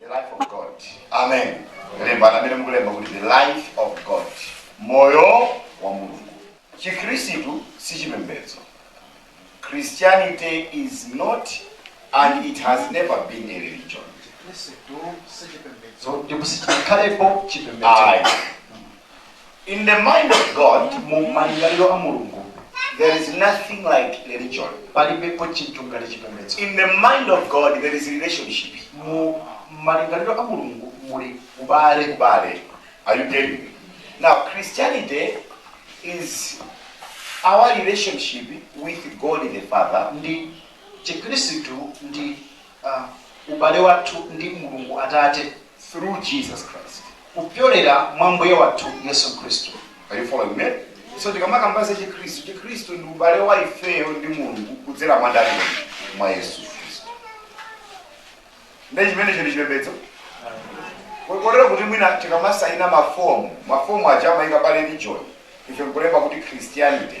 the life of god amen lembani amene mukulemba kuti the life of god moyo wa mulungu chikhristu si chipembedzo christianity is not and it has never been a religion ndipo sichinakhalepo chipembedzo ayi In the mind of God, mu malingaliro a Mulungu, there is nothing like religion. palibepo chinthu ngati chipembedzo In the mind of God, there is relationship. mu malingaliro a mulungu muli ubale. Are you getting me? Now, Christianity is our relationship with God the Father ndiye chikhristu ndi ubale wathu ndi Mulungu Atate. through Jesus Christ. kupyolera mwa Mbuye wathu Yesu Khristu. Are you following me? So tikamakamba za chikhristu, chikhristu ndi ubale wa ifeyo ndi Mulungu kudzera mwa ndani? Mwa Yesu Khristu. Ndiye chimenecho si chipembedzo. Ko- Kotero kuti mwina tikamasayina mafomu, mafomu aja amayika pa religion, ife nkulemba kuti Christianity.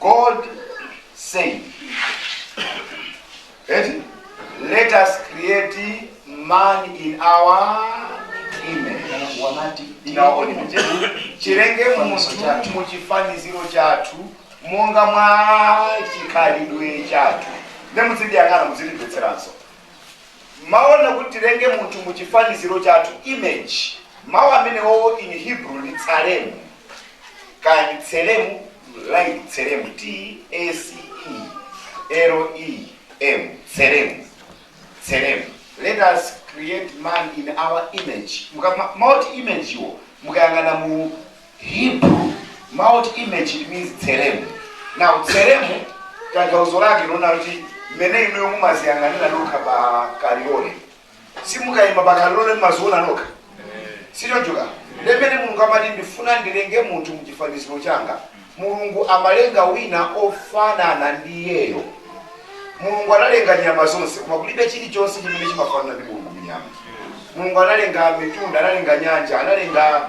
God said, eti, let us create man in our image. Mulungu anati In our own image. Tilenge munthu mu chifaniziro chathu monga mwa chikhalidwe chathu. Ndiye muzindiyang'ana muzindimvetseranso. Mawu onena kuti tilenge munthu mu chifaniziro chathu image, mawu amenewowo in Hebrew ndi tsalemu, kaya ndi tselemu, like tselemu, T S E L E M, tselemu, tselemu. Let us create man in our image. Muka- ma- Mawu oti image wo mukayang'ana mu Hebrew, mau oti image it means tselem. Now tselem tanthauzo lake lonena kuti mmene inuyo mumadziyang'anira nokha pa kalilole simukayima pa kalilole mumadziona nokha si choncho ndiye mmene mulungu amati ndifuna ndilenge munthu mchifaniziro changa mulungu amalenga wina ofanana ndi iyeyo mulungu analenga nyama zonse koma kulibe chilichonse chimene chimafanana ndi mulungu mnyama mulungu analenga mitunda analenga nyanja analenga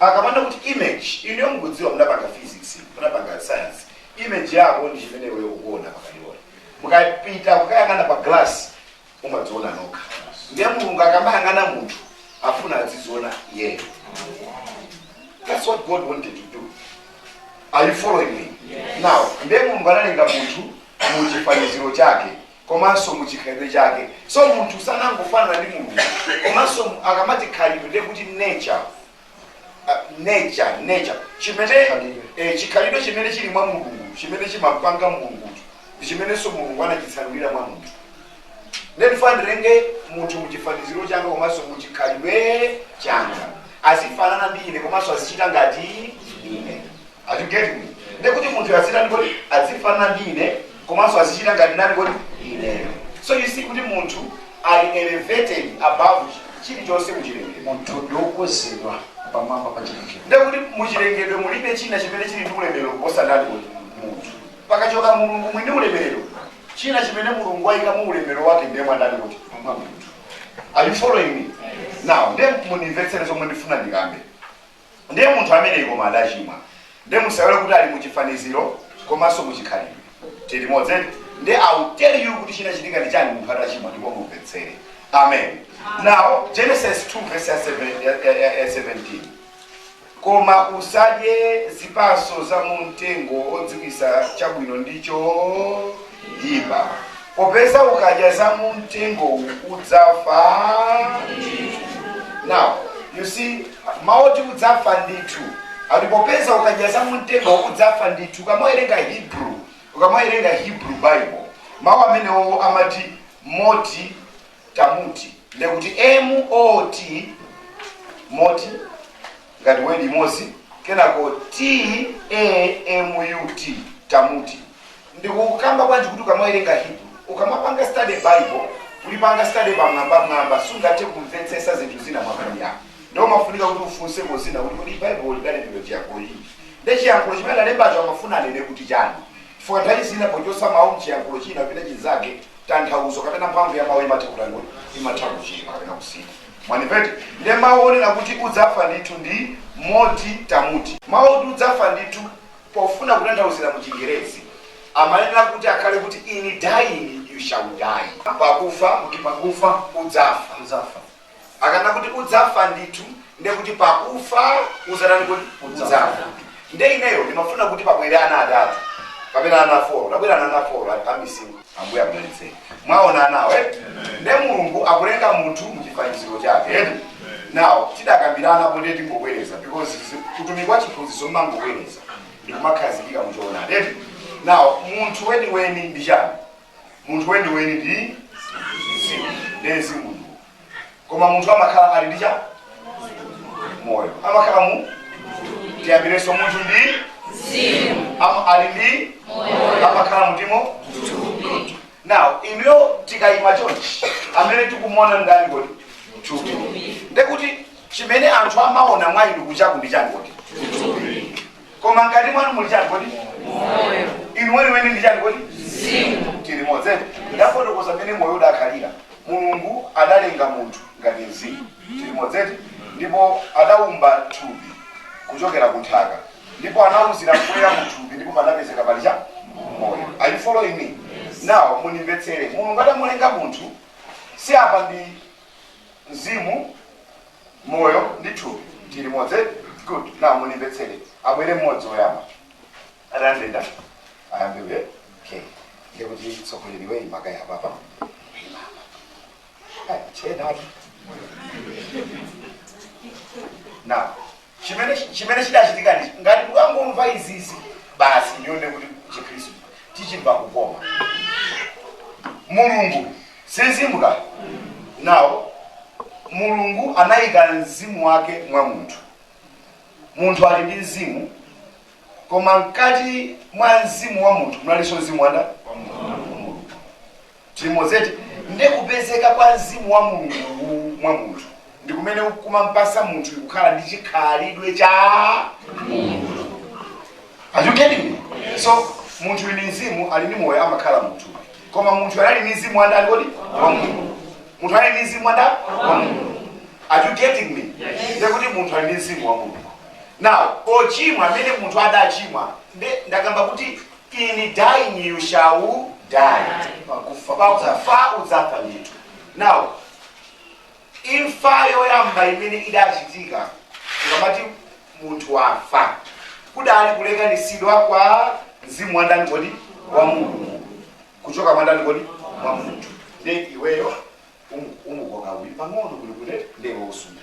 Akamanena kuti image, inuyo mukudziwa munapanga physics, munapanga science, image yako ndi chimene iweyo ukuona pa kalilole. Mukapita kukayang'ana pa glass, mumadziona nokha. Ndiye Mulungu akamayang'ana munthu, afuna adziziona iyeyo. That's what God wanted to do. Are you following me? Yes. Now, ndiye Mulungu analenga munthu mu chifaniziro chake. komanso mu chikhalidwe chake. So munthu sanangofanana ndi Mulungu komanso akamati khalidwe ndiye kuti nature uh, nature nature chimene eh, chikhalidwe chimene chili mwa Mulungu chimene chimapanga Mulungu ndi chimenenso Mulungu anachitsanulira mwa munthu ndiye ndifuna ndilenge munthu muchifaniziro changa komanso muchikhalidwe changa azifanana ndi ine komanso azichita ngati ine Are you getting me? Ndiye kuti munthu azitani kodi? Adzifanana ndi ine komanso azichita ngati ndani kodi? Ineyo. So you see kuti munthu ali elevated above chi- chilichonse muchilengedwe. Munthu ndi wokwezedwa pamwamba pa chilengedwe. Ndiye kuti muchilengedwe mulibe china chimene chili ndi ulemerero kuposa ndani kodi? Munthu. Pakachoka Mulungu mwini ulemerero, china chimene Mulungu wayika mu ulemerero wake ndiye mwa ndani kodi? Mwa munthu. Are you following me? Now, ndiye mundimvetsere zomwe ndifuna ndikambe. Ndiye munthu ameneyu koma adachimwa. Ndiye musaiwale kuti ali mu chifaniziro komanso mu chikhalidwe. Tili limodzi eti? Ndiye I will tell you kuti chinachitika ndi chani munthu atachimwa ndipo mumvetsere. Amen. Now Genesis 2 verse ya 7 ya- ya- ya- ya 17. Koma usadye zipatso za mu mtengo odziwitsa chabwino ndi cho ipa. Popeza ukadya za mu mtengowu udzafa. Now, you see, mawu oti udzafa ndithu akuti popeza ukadya za mu mtengowu udzafa ndithu ukamawerenga hebrew ukamawerenga hebrew bible mawu amenewo amati moti tamuti ndekuti mot moti ngati word imodzi kenako t-a-m-u-t tamuti ndikukamba bwanji kuti ukamawerenga hebrew ukamapanga study bible kulipanga study pamwambamwamba sungathe kumvetsetsa zinthu zina mwakhali yako ndiye umafunika kuti ufunseko zina kuti kodi bible lidalembedwa chiyankhulo chiti nde chiyankhulo chimene adalembacho amafuna anene kuti chani chifukwa nthawi zina pochosa mawu mchiyankhulo china kupita chinzake tanthauzo kapena mphamvu ya mawu imatha kutani imatha kuchepa kapena kusintha Mwandimvetsa? Ndiye mawu onena kuti udzafa ndithu ndi moti tamuti. Mawu oti udzafa ndithu pofuna kutanthauzira mu chingerezi amayenera kuti akhale kuti in dying you shall die. Pakufa, kuti pakufa udzafa. Udzafa. Akanena kuti udzafa ndithu ndiye kuti pakufa udzatani kodi? Udzafa. Ndiye ineyo ndimafuna kuti pabwere ana atatu kapena ana folo. Tabwera ana folo a missing. ambuye akudalitseni mwaona anawo eh? nde mulungu akulenga munthu muchifaniziro chake eti? now tidakambirana kale tingobwereza because utumiki wa chiphunzitso umangobwereza ndikumakhazikika muchoonadi eti? now munthu weniweni ndi chani munthu weniweni ndi mzimu nde mzimu uyu koma munthu amakhala ali ndi chani moyo amakhala mu tiyambireso munthu ndi mzimu Am- ali ndi amakhala mthupi now inuyo tikayima chonchi amene tikumona ndani kodi thupi ndekuti chimene anthu amaona mwa inu kunjaku ndi chani kodi koma mkati mwanu muli chani kodi inu weniweni ndi chani kodi tili limodzi eti ndafotokoza mmene moyo udakhalira mulungu adalenga munthu ngati mzimu tili limodzi eti ndipo adaumba thupi kuchokera ku nthaka ndipo anauzira mpweya mu thupi ndipo panapezeka pali chani moyo are you following me now mundimvetsere mulungu adamulenga munthu so apa ndi Mzimu, moyo, ndi thupi tili limodzi eti? Good. Now mundimvetsere. Abwere mmodzi woyamba. Ayambe ndani? Ayambe iwe. Okay. Ndiye kuti tsogola iwe ima kaye apapa. Chedatu. Now, Chimene chimene chidachitika ndichi ngati mukangomva izizi basi ndiye ndiye kuti chikhristu tichimva kukoma mulungu si mzimu now mulungu anayika mzimu wake mwa munthu munthu ali ndi mzimu koma mkati mwa mzimu wa munthu munalinso mzimu wandani Tili limozi eti? Nde kupezeka kwa mzimu wa Mulungu uwu mwa munthu ndi kumene kumampasa munthuyu kukhala ndi chikhalidwe cha Mulungu. Are you getting me? So munthuyu ndi mzimu ali ndi moyo amakhala mthupi. Koma munthu anali ndi mzimu wandani kodi? Wa Mulungu. Munthu anali ndi mzimu wandani? Wa Mulungu. Are you getting me? Nde kuti munthu ali ndi mzimu wa Mulungu. Now, kuchimwa mmene munthu adachimwa nde ndakamba kuti In dying you shall die. Pakufa, pakufa udzafa ndithu. Now, imfa yoyamba imene idachitika tikamati munthu wafa kudali kulekanitsidwa kwa mzimu wa ndani kodi wa mulungu kuchoka mwa ndani kodi mwa munthu nde iweyo umu- umukoka uyu pang'ono kunoku nde ndewe usunda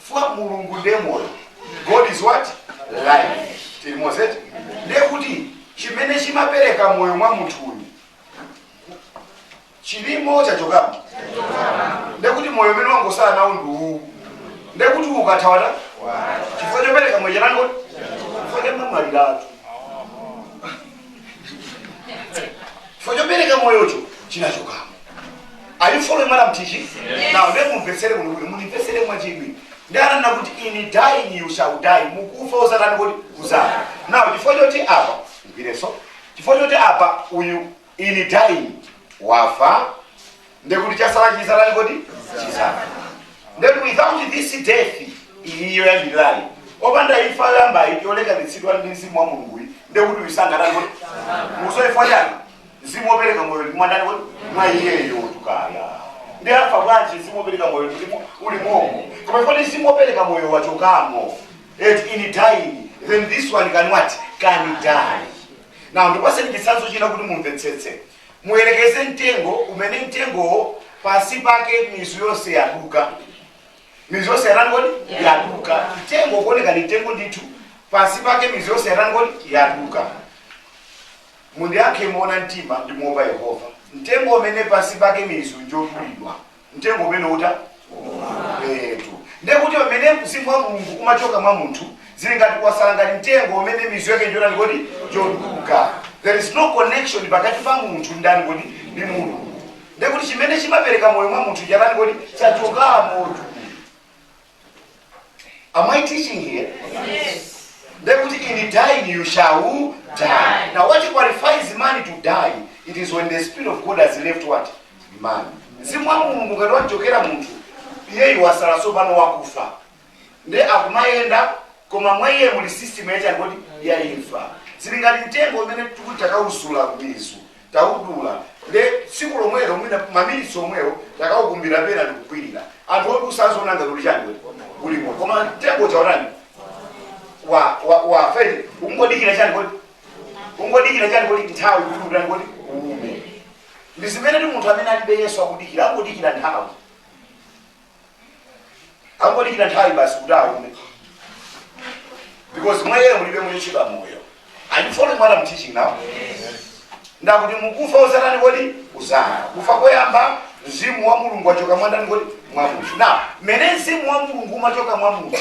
chifukwa mulungu ndiye moyo god is what life tili limozi eti ndiye kuti chimene chimapereka moyo mwa munthu uyu chilimo chachokamo ndiye kuti moyo umene wangosala nawo ndi uwu ndiye kuti ukatha wafa chifukwa chopereka moyo chanani kodi chafa chamwaliratu chifukwa chopereka moyocho chinachokamo are you following what I'm teaching now ndiye mumvetsere kuno kuti mundimvetsere mwachidwi ndanena kuti in dying you shall die mukufa uzatani kodi uzafa now chifukwa choti apa ndiyambireso chifukwa choti apa uyu in dying wafa ndekuti chasala chizatani kodi chizafa ndekuti without this death iyi yoyambirirayi opanda imfa yoyambayi yolekanitsidwa ndi mzimu wa mulungu iyi ndekuti uyu sangatani kodi musoifwa chani mzimu wopereka moyo uli mwandani kodi mwa iyeyotu kaya nde afa bwanji mzimu wopereka moyo uli mu- uli momo koma if mzimu wopereka moyo wachokamo et in dying then this one can what can die now ndipaseni chitsanzo china kuti mumvetsetse Muyerekeze mtengo umene mtengowo pansi pake mizu yonse yaduka. Mizu yonse yatani kodi? Yaduka. Mtengo ukuoneka ndi mtengo ndithu, pansi pake mizu yonse yatani kodi? Yaduka. Mundiyankhe moona mtima ndi moopa Yehova. Mtengo umene pansi pake mizu njodulidwa, Mtengo umene uta? Eetu. Ndiye kuti pamene mzimu wa Mulungu umachoka mwa munthu, zili ngati kwasala ngati mtengo umene mizu yake njotani kodi? Njoduka. There is no connection pakati pa munthu ndani kodi? Ndi Mulungu. Ndiye kuti chimene chimapereka moyo mwa munthu chatani kodi? Chachokamotu. Am I teaching here? Ndekuti in dying you shall die. Now what qualifies man to die? It is when the spirit of God has left what? Man. Mzimu wa Mulungu ngati wamchokera munthu, iyeyu wasala tsopano wakufa. Nde akumayenda koma mwa iye muli system yachani kodi yaimfa. Zili ngati mtengo umene tikuti takauzula mizu. taudula nde tsiku lomwelo mwina maminitsi omwewo takaukumbira pena ndikukwirira anthu odusa aziona ngati uli chani kodi uli moyo koma mtengo uja watani wa wa wa fere ungodikira chani kodi nthawi kuti utani kodi uume ndi zimene ndi munthu amene alibe yesu akudikira angodikira nthawi angodikira nthawi basi kuti aume because mwa iye mulibe mulichedwa moyo are you following what i'm teaching now nde akuti mukufa uzatani kodi uzafa kufa koyamba mzimu wa mulungu wachoka mwandani kodi mwa munthu now mmene mzimu wa mulungu umachoka mwa munthu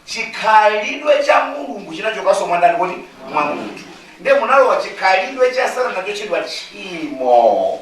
chikhalidwe cha mulungu chinachokanso mwandani kodi mwa munthu ndiye munalowa chikhalidwe cha satana chochedwa tchimo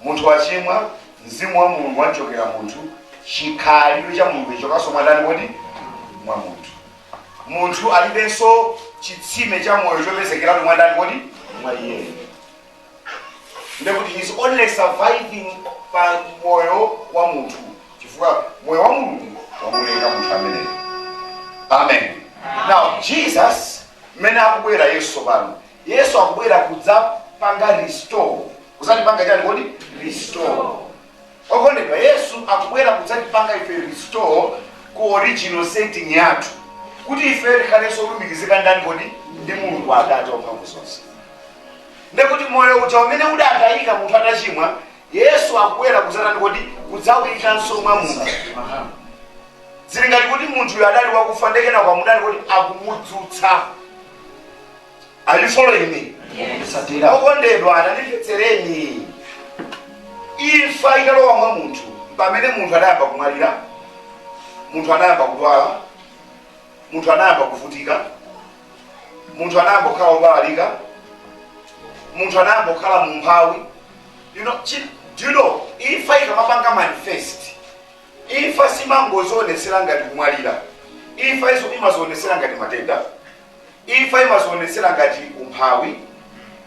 Munthu wachimwa, Mzimu wa Mulungu wamchokera munthu, chikhalidwe cha Mulungu chachokanso mwa ndani kodi? Mwa munthu. Munthu alibenso chitsime cha moyo chopezekeratu mwa ndani kodi? Mwa iyeyo. Ndekuti he's only surviving pa moyo wa munthu chifukwa moyo wa Mulungu wamuleka munthu ameneyo. Amen. Now Jesus mmene akubwera Yesu pano, Yesu akubwera kudzapanga restore Kudzatipanga chani kodi? Restore. Okondedwa, Yesu akubwera kudzatipanga ife restore ku original setting yathu, kuti ifeyo tikhalenso olumikizika ndani kodi? Ndi Mulungu Atate wamphamvu zonse. Nde kuti moyo uja umene udatayika munthu atachimwa, Yesu akubwera kudzatani kodi? Kudzauyikanso mwa munthu. Zili ngati kuti munthuyo adali wakufa nde kenako amutani kodi? Akumudzutsa. Are you following me? Okondedwa tandimvetsereni imfa italowa mwa munthu pamene munthu anayamba kumwalira munthu anayamba kudwala munthu anayamba kuvutika munthu anayamba kukhala wobalalika munthu anayamba kukhala mumphawi you know, chi- do you know imfa ikamapanga manifest imfa simangozionetsera ngati kumwalira imfa iyo imazionetsera ngati matenda Imfa imazionetsera ngati umphawi,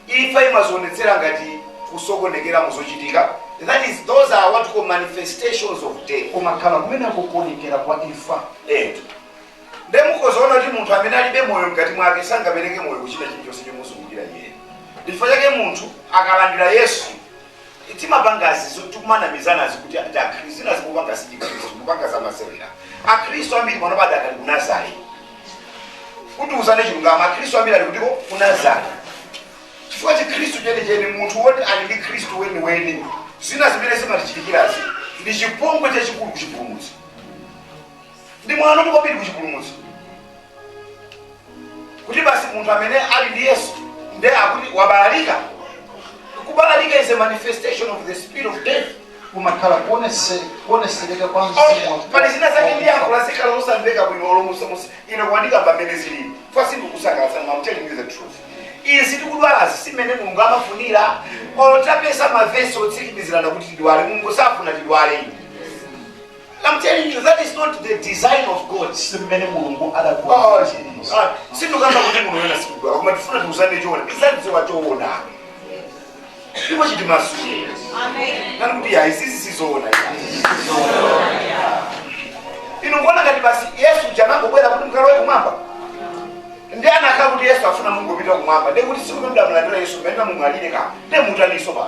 imfa imazionetsera ngati kusokonekera mu zochitika, that is, those are what we call manifestations of death. Kumakhala kumeneko kuonekera kwa imfa. Eetu. Nde mukhoza kuona kuti munthu amene alibe moyo mkati mwake sangapereke moyo ku china chilichonse chomuzungulira iyeyo. Ndi chifukwa chake munthu akalandira Yesu timapangazi zoti kumanamizanazi kuti ati akhristu zinazi kupanga si chikhristu kupanga za masewera akhristu ambiri panopa adakali ku Nazare kuti tiuzane chilungamo akhristu ambiri ali kutiko ku Nazare chifukwa chikhristu chenicheni munthu woti ali ndi khristu weniweni zina zimene zimatichitikirazi ndi chipongwe chachikulu ku chipulumutso ndi mwano tu kwambiri ku chipulumutso kuti basi munthu amene ali ndi yesu nde akuti wabalalika kubalalika is a manifestation of the spirit of death kumakhala kuonese- kuonesereka kwa mzimu Okay, wa- pali zina zake ndi yankho lazikhala losamveka bwino olomusamusa ine koma ndikamba mmene zilili pa sindikusangalatsa I'm telling you the truth izi tikudwalazi si mmene mulungu amafunira olo tapeza mavesi otsikimizirana kuti tidwale mulungu safuna tidwale ine I'm telling you that is not the design of God. Si mmene Mulungu adakuwa. Sindikukamba kuti Mulungu ena sikudwa. Koma tifuna tiuzane choona. Tidzadziwa choona. Ndipo chitimasule. Amen. Nani kuti ya izizi sizoona. Inu kuona ngati basi Yesu uja anangobwera kuti mukalowe kumwamba. Nde anakakhala kuti Yesu afuna mungopita kumwamba. Nde kuti tsiku mudamulandira Yesu bwenda mumwalire ka. Nde mutaninso apa.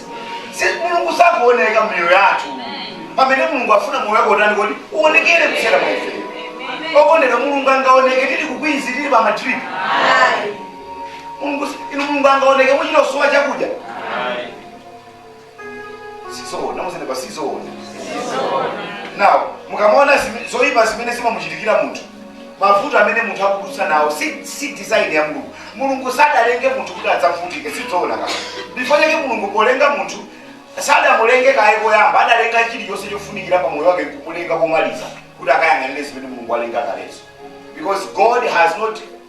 Si- mulungu sakuoneka mmiyoyo yathu pamene mulungu afuna moyo wake utani kodi uonekere kudzera mwa ife okondedwa mulungu angaoneke tili ku Queens tili pa madrip mulungu si- inu mulungu angaoneke mukuchita kusowa chakudya sizoona muzenepa sizoona nawo mukamaona zime- zoyipa zimene zimamuchitikira munthu Mavuto amene munthu akudutsa nawo si si design ya Mulungu. Mulungu sadalenge munthu kuti adzavutike, sizowona ayi. Ndifukwa chake Mulungu polenga munthu sadamulenge kaye koyamba, adalenga chilichonse chofunikira pa moyo wake nkumulenga komaliza kuti akayang'anire zimene Mulungu walenga kalezo. Because God has not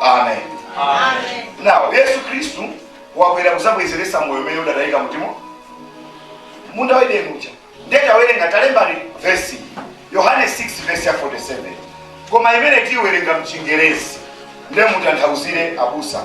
amen now yesu khristu wabwera kuzabwezeretsa moyo umene udatayika mu m'munda wa edeni uja ndiye tawerenga talembani vesi yohane 6 vesi ya 47 koma imene tiiwerenga mchingerezi ndiye mutanthauzire abusa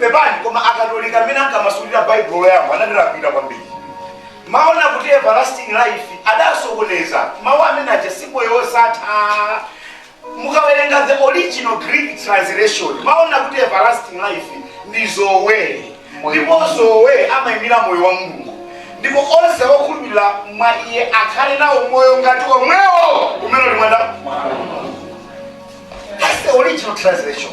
pepani koma akatolika amene ankamasulira baibulo loyamba anatilakwira kwambiri mawu ona kuti everlasting life adasokoneza mawu amene aja si moyo wosatha mukawerenga the original greek translation mawu ona kuti everlasting life ndi zoe ndipo zoe amayimira moyo wa mulungu ndipo onse okhulupirira mwa iye akhale nawo moyo ngati omwewo umene uli mwa ndani that's the original translation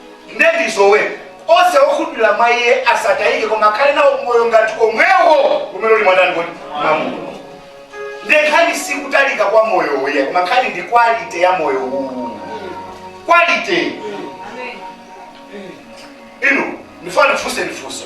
Nde ndi zoe, onse okhulupirira mwa iye asatayike koma akhale nawo moyo ngati omwewo umene uli mwa ndani kodi mwa Mulungu. Nde nkhani si kutalika kwa moyo uwu, koma nkhani ndi quality ya moyo uwu, quality inu ndifuna ndifunse funso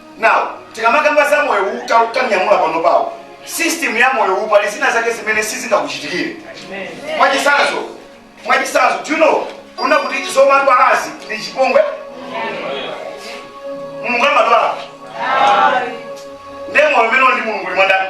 Now, tikamakamba za moyo uwu ta- tanyamula panopawo system ya moyo uwu pali zina zake zimene sizingakuchitikire mwachitsanzo mwachitsanzo do you know ukudziwa kuti zomadwalazi ndi chipongwe mulungu amadwala nde moyo umene uli ndi mulungu uli mwa ndani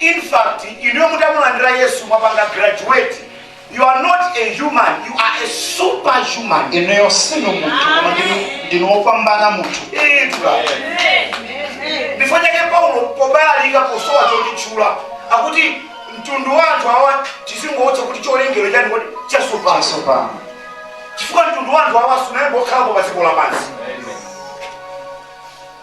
In fact, inuyo mutamulandira Yesu munapanga graduate. You are not a human, you are a superhuman. inuyo sinu munthu koma ndinu- ndinu wopambana munthu wamba. Ndifukwa chake Paulo pobalalika, posowa chotitchula akuti mtundu wa anthu awa tizingowatcha kuti cholengedwa chanji kodi chatsopano chatsopano chifukwa mtundu wa anthu awa sunayambe wakhalapo pa dziko lapansi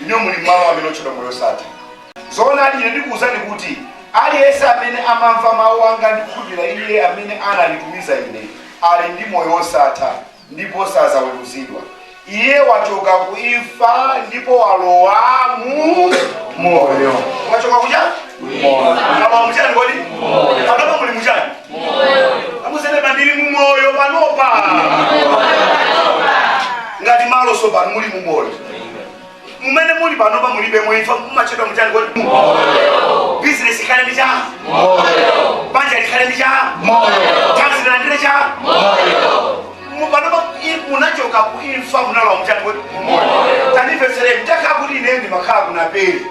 Inuyo muli m'malo amene otchedwa moyo wosatha. Zoonadi, ine ndikuwuzani kuti aliyense amene amamva mawu anga ndi kukhulupirira Iye amene ananditumiza Ine ali ndi moyo wosatha ndipo sadzaweruzidwa. Iye wachoka ku imfa ndipo walowa mu moyo. Mwachoka kuchani? Mwalowa muchani kodi? Panopa muli muchani? amuuzeni ba ndili mumoyo panopa ngati malo tsopano muli mumoyo mumene muli panopa mulibe imfa mumatchedwa muchani kodi bizinesi ikhale ndi chani banja likhale ndi chani thanzi lilandire chani Mu- panopa i- munachoka ku imfa munalowa muchani kodi tanimvetsere mutakhala kuti ine ndimakhala ku Naperi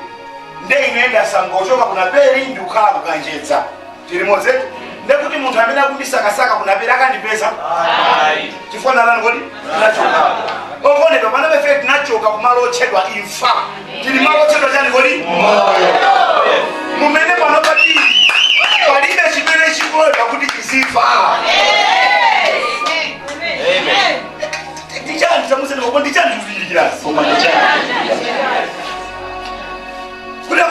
nde ine ndasamuka kuchoka ku Naperi ndikukhala ku Kanjedza tili limodzitu ndekuti munthu amene akundisakasaka kunapera akandipeza chifukwa ninji kodi tinachoka okondedwa pano ife tinachoka kumalo otchedwa imfa tili malo otchedwa chani kodi moyo m'mene pano patili palibe chimene chikuloledwa kuti chizifa ndichani chamusene koma ndichani kuzindikira kuti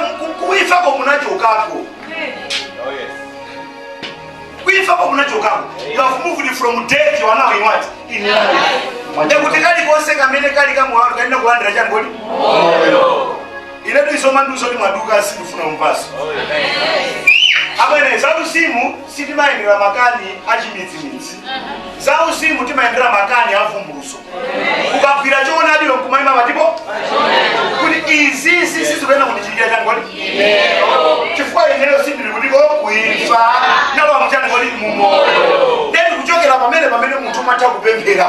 kuifako kunachokako kuifako munachokako you have moved from death you are now in what in life ndekuti kali konse kamene kali mwa inu kalina kulandira chani kodi iletu isoma nduso ni mwaduka sindikufuna mupaso abwenzi zauzimu sitimayendera nkhani achimidzimidzi zauzimu timayendera nkhani avumbulutso ukagwira choonadicho nkumayima patipo kuti izi si sizikuyenera kundichitikira chani kodi chifukwa ineyo sindili kutiko kuimfa nalowa muchani kodi mumoyo then kuchokera pamene pamene munthu umatha kupemphera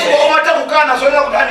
chifukwa umatha kukana zoyenera kukana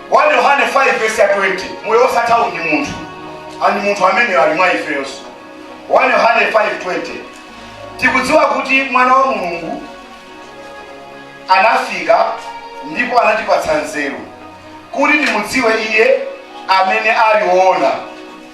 1 Yohane 5 vesi ya 20 moyo osathawu ndi munthu and munthu ameneyo ali mwa ifeyonso 1 Yohane 5:20 tikudziwa kuti mwana wa mulungu anafika ndipo anatipatsa nzeru kuti timudziwe iye amene ali woona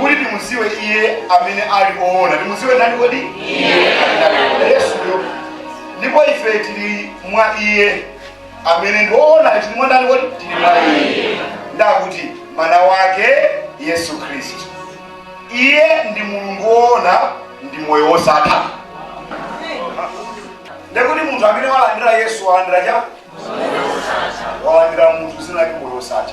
kuti timuziwe iye amene ali oona timuziwe ndani kodi yesuyo ndipo ife tili mwa iye amene ndi oona tili mwa ndani kodi tili mwa iye ndakuti mwana wake yesu khristu iye ndi mulungu woona ndi moyo wosatha ndekuti munthu amene walandira yesu walandira cha walandira munthu zina lake moyo wosatha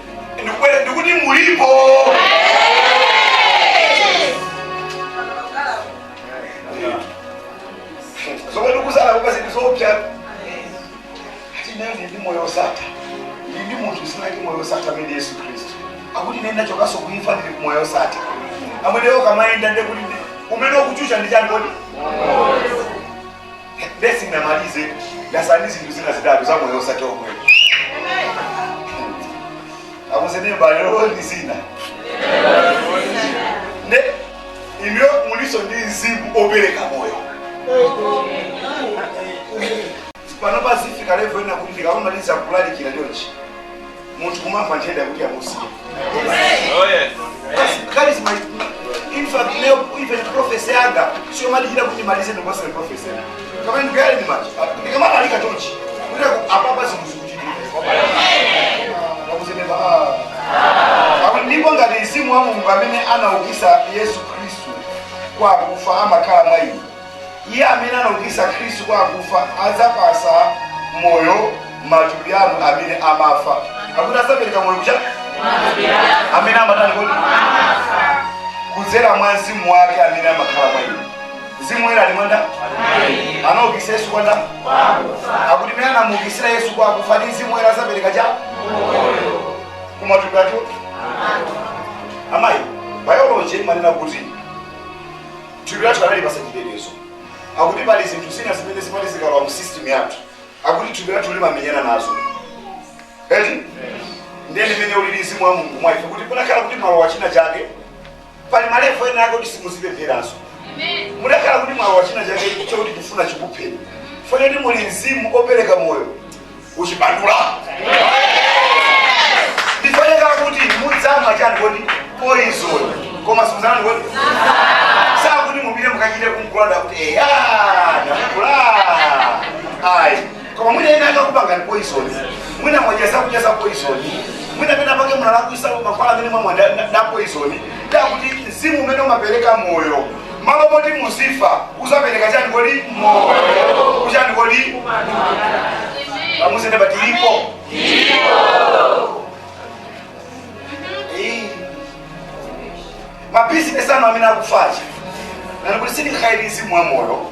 ndikubwera ndikuti mulipo zomwe ndikuzala kupa zinthu zoopsa ati nane ndi moyo osatha ndi ndi munthu dzina lake moyo osatha amene ndi yesu khristu akuti ine ndachokanso kuimfa ndili ku moyo osatha amene ukamayenda ndekuti umene ukuchusha ndi chani kodi Basi ndimalize ndatsala ndi zinthu zina zitatu za moyo osatha omwe. Akuzeni mbale lolo ndi zina. Inuyo mulinso ndi mzimu opereka moyo. Pano pazifika level ina kuti ndikamaliza kulalikira chonchi. munthu kumamva nthenda kuti yamusiya charisma in fact leo even prophecy yanga sio mali jira kuti malize ndo basi prophecy yanga kama ni gari mali kama mali katonchi kuti apapa zimuzi kuti wakuzemeba ah ndipo ngati mzimu wa Mulungu amene anaukitsa Yesu Kristu kwa akufa amakhala mwa inu Iye amene anaukitsa Khristu kwa akufa adzapatsa moyo matupi anu amene amafa. Akuti adzapereka moyo ku cha amene amatani kodi kudzera mwa mzimu wake amene amakhala mwa inu. Mzimu woyera ali mwa ndani? Anaukitsa Yesu kwa ndani? Akuti amene anamuukitsira Yesu kwa akufa ndi mzimu woyera adzapereka cha kumatupi athu amayi biology imanena kuti Thupi lathu analipatsa chitetezo. Akuti pali zinthu zina zimene zimati zikalowa mu system yathu. Akuti thupi lathu limamenyana nazo. Eti? Ndiye ndi mmene ulili mzimu wa Mulungu mwa ife kuti kutakhala kuti mwalowa china chake pali malevo ena yake kuti simudzipemphereranso. Mutakhala kuti mwalowa china chake chokuti kufuna chikupheni. Fanyeni muli mzimu opereka moyo. kuchipatula ndiye wanena kuti mudzamwa chani kodi poison koma simudzatani kodi osati kuti mupite mukachite kumwa kunena kuti eya ndakula ayi koma mwina ena akakupangani poison mwina mwadya zakudya za poison mwina pena pake munalakwitsa mankhwala amene mwamwa ndi poison ndiye akuti mzimu umene umapereka moyo Mmalo moti muzifa udzapereka chani kodi? Moyo. Ku chani kodi? Tamuuzeni neba tilipo. Ma business anu amene akufa aja. Nenani kuti zilandire mwa moyo.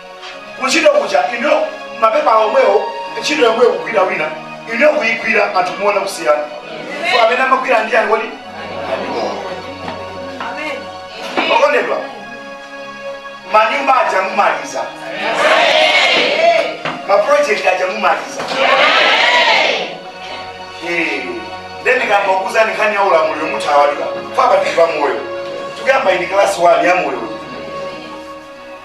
kuntchito kuja inuyo mapepa omwewo ntchito yomweyo kugwira wina inuyo kuyigwira anthu muona kusiyana so amene amagwira ndi anthu oti okondedwa manyumba aja mumaliza maprojekti aja mumaliza Eh, then ndikamakuuzani nkhani ya ulamuliro mutha wadikira apapa tili pa moyo tikukamba iyi kalasi wani ya moyo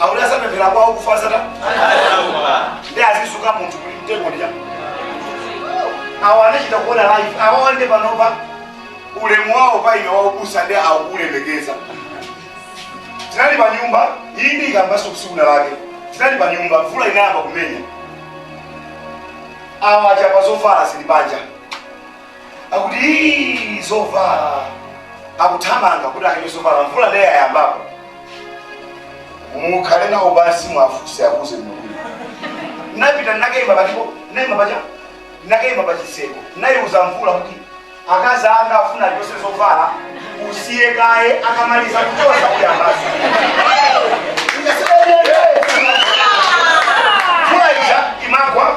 akuti adzapempherera kwa akufa adzatani adzadzuka munthu kuli mtengo ndija awa anachita kuona life awa awa nde panopa ulemu wawo pa ine waubusa ndi akuulemekeza tinali pa nyumba iyi ndiikambanso ku tsiku lake tinali pa nyumba mvula inayamba kumenya awa achapa zovala zili panja akuti "Ii, zovala akuthamanga kuti achotse zovala mvula ndiye yayambapo mukhale nawo pansi mwafuse akuze Mulungu napita nakaima pachipo naima paja nakaima pachitseko naiuza mvula kuti akazi anga afuna achotse zovala usiye kaye akamaliza kuchotsa kuyambanso mvula ija imagwa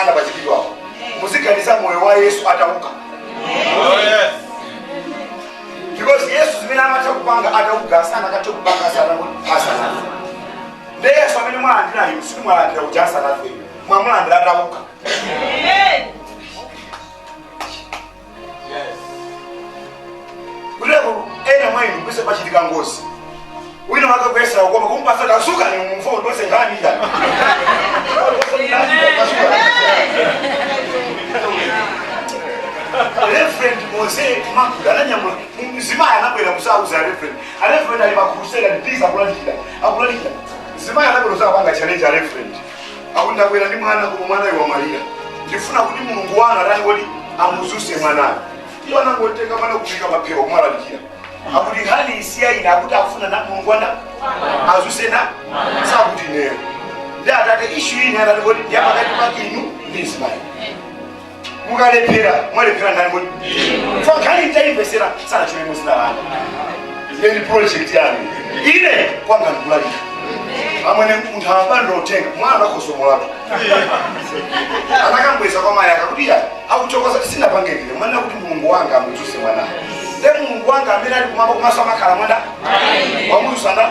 anapachikidwapo muziganiza moyo wa yesu atauka because yesu zimene amatha kupanga atauka samatha kupanga asanafe nde yesu amene mwalandira inu simunalandire uja asanafe mwamulandira atauka Kuleku ena mwa inu kwese pachitika ngozi. Wina wake kuyesa ukoma kumpasa kasuka ni mumfo ndose nkhani ija. Reverend Mose Makuda ananyamula mzimayi anabwera kudzauza Reverend. A Reverend ali pa crusade ndithu akulalikira. Akulalikira. Mzimayi anabwera kudzapanga challenge a Reverend. akuti ndabwera ndi mwana koma mwanayu wamwalira ndifuna kuti mulungu wanu atani kodi amudzutse mwanayo iwo anangotenga mwana kuyika paphewa kumalalikira akuti nkhani isiya ine akuti akufuna na mulungu mwana adzutse nanga sikuti ineyo ndi atate issue ili yotani kodi ndi yapakati pa inu ndi ismaeli mukalephera mwalephera ndani kodi pankhani mutayimvetsera sanachimwe mudzina lanu ndi project yanu ine kwanga ndikulalika amwene munthu anangotenga mwana akosomolatu anakambwezera kwa mayi akuti ya akuchokoza sindinapange ine mwana kuti mulungu wanga amudzutse mwana nde mulungu wanga amene ali kumwamba kumaso amakhala mwana wamudzutsa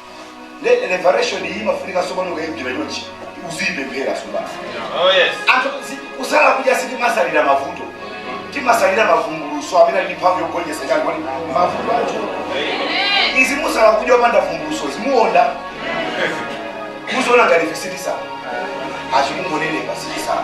nde revelation iyi imafunika tsopano ukayigwira chonchi uziyipemphera tsopano Oh yes. anthu zi- kusala kudya sitimasalira mavuto timasalira mavumbulutso amene ali ndi mphamvu yogonjetsa chani kodi mavuto anthu izi kusala kudya opanda vumbulutso simuonda muziona ngati ife sitisala tikungonenepa sitisala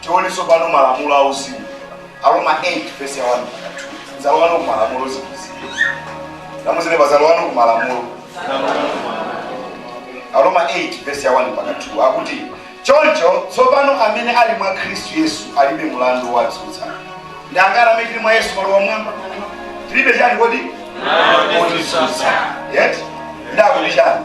Tione tsopano malamulo auzimu. Aroma 8 vesi ya 1 mpaka 2. Zalowano ku malamulo zimenezi. Nanena pa zalowano ku malamulo. Aroma 8 vesi ya 1 mpaka 2 akuti choncho tsopano amene ali mwa Khristu Yesu alibe mlandu wowatsutsa. Ndi angati amene tili mwa Yesu manja mmwamba? Tilibe chani kodi? Otitsutsa. Yet? Ndakuti chani?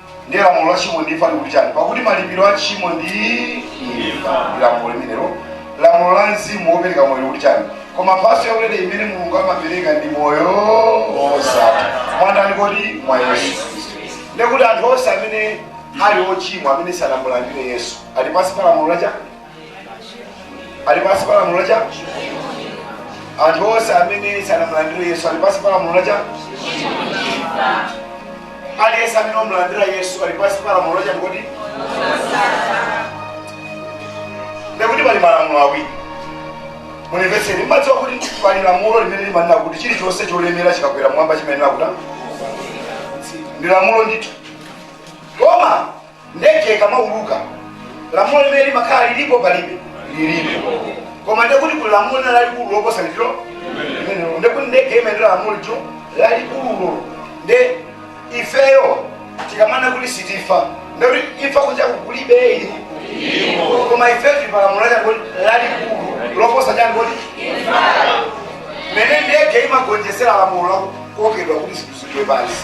ndiye lamulo la tchimo ndi imfa likuti chani pakuti malipiro a tchimo ndi imfa ndi lamulo limenelo lamulo la mzimu wopereka moyo likuti chani koma mphatso yaulere imene mulungu amapereka ndi moyo wosatha mwa ndani kodi mwa yesu ndekuti anthu onse amene ali ochimwa amene sanamulandire yesu ali pansi pa lamulo la chani ali pansi pa lamulo lacha anthu onse amene sanamulandire yesu ali pansi pa lamulo lacha aliyense amene wamulandira yesu ali pansi pa lamulo lacha ndikuti ndikuti pali malamulo awiri munimvetseni mmadziwa kuti pali lamulo limene limanena kuti chilichonse cholemera chikakwera mwamba chimayenera kuta ndi lamulo ndithu koma Ndege ikamauluka lamulo limene limakhala lilipo palibe lilipo, koma ndiye kuti kuli lamulo lina lalikulu loposa litilo limenelo, ndiye kuti ndege imayendera lamulo litilo lalikululo. Ndiye ifeyo tikamanena kuti sitifa, ndiye kuti imfa kunjaku kulibe ili koma ifeyo tili pa lamulo lachako lalikulu loposa chako mene ndege imagonjetsera lamulo lakukokedwa kuti zinthu zigwe pansi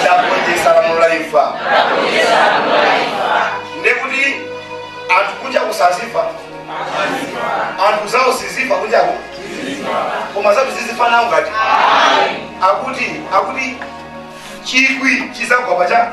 ndagonjetsa lamulo la imfa ndekuti anthu kunjaku sazifa anthu zawo sizifa kunjako koma osati muzifa nawo ngati akuti akuti chikwi chidzagwa pacha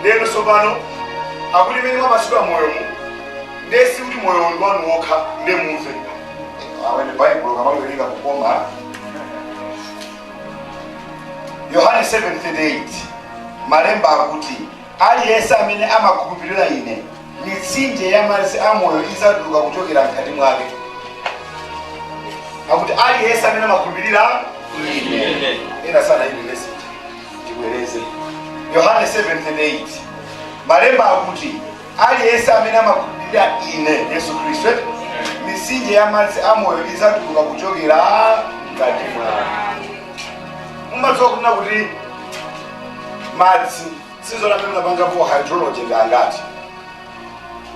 ndeno tsopano akuti mene mwapatsidwa moyomu nde sikuti moyo ndi wanu wokha nde mumve awene baibulo kamawerenga kukoma yohane 7:38 malemba akuti Aliyense amene amakhulupirira Ine, mitsinje ya madzi a moyo idzatuluka kuchokera mkati mwake. Akuti aliyense amene amakhulupirira Ine. Ena sanaione vesiyi. Tibwereze. Yohane 7:38. Malemba akuti aliyense amene amakhulupirira Ine, Yesu Khristu, eh, mitsinje ya madzi a moyo idzatuluka kuchokera mkati mwake. Mumadziwa kunena kuti madzi sizona amene munapangapo hydrology ndi angati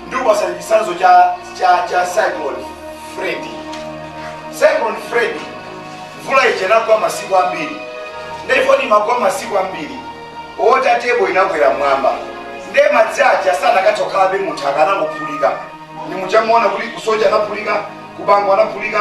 ndikupatsani chitsanzo cha cha cha cyclone freddy cyclone freddy mvula ija inagwa masiku ambiri ndipo imagwa masiku ambiri water table inakwera mwamba nde madzi aja sanakatha kukhalabe munthaka anangophulika ndi muchamuona kuti ku soche anaphulika ku bangwe anaphulika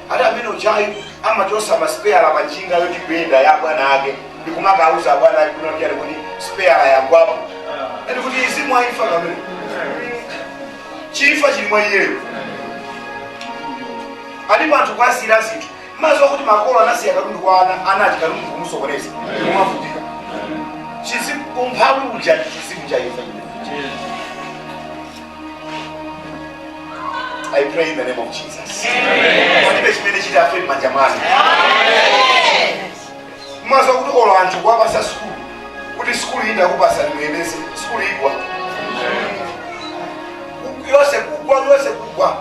Ati amene ujayu amachotsa ma spare pa njinga yoti ikuyenda ya bwana ake ndi kumakauza bwana ake kunena kuti spare yagwapo. Ndiye kuti chizimu cha imfa chimene. Cha imfa chili mwa iyeyo. Alipo anthu kwa sira zinthu. Mumadziwa kuti makolo anasiya katundu kwa ana ana katundu kumusokoneza. Kumavutika. Chizimu umphawi uja chizimu cha imfa. I pray in the name of Jesus. Palibe chimene chitafe m'manja mwanu. Mumadziwa kuti olo anthu kuwapatsa sukulu kuti sukulu iyi ndakupatsani muyendetse sukulu igwa yonse kugwa yonse kugwa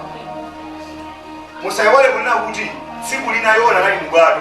musaiwale kunena kuti tsiku lina Yona anali mubwato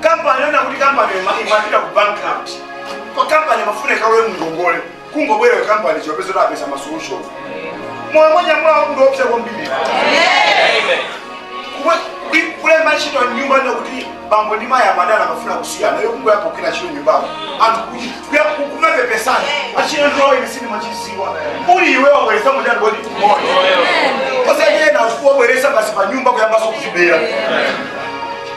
kampani yona kuti kampani ima- imapita ku bankrupt kwa kampani imafuna ikalowe mngongole kungobwera yo kampani kungopeza apeza masolution moyo mwanyamulawo ndi woopsa kwambiri Kumwe- kuli- kulemba ntchito nyumba ino kuti bambo ndi mayi amadana amafuna kusiyana yo kungoyamba kugwira ntchito nyumbako anthu kuti kuya- ku- kumapepesana achina ndiwawo ine sindimadziwa uli iwe wabweretsa mtendere kodi moyo osachena umfuna ubweretse basi pa nyumba kuyambanso kuzibera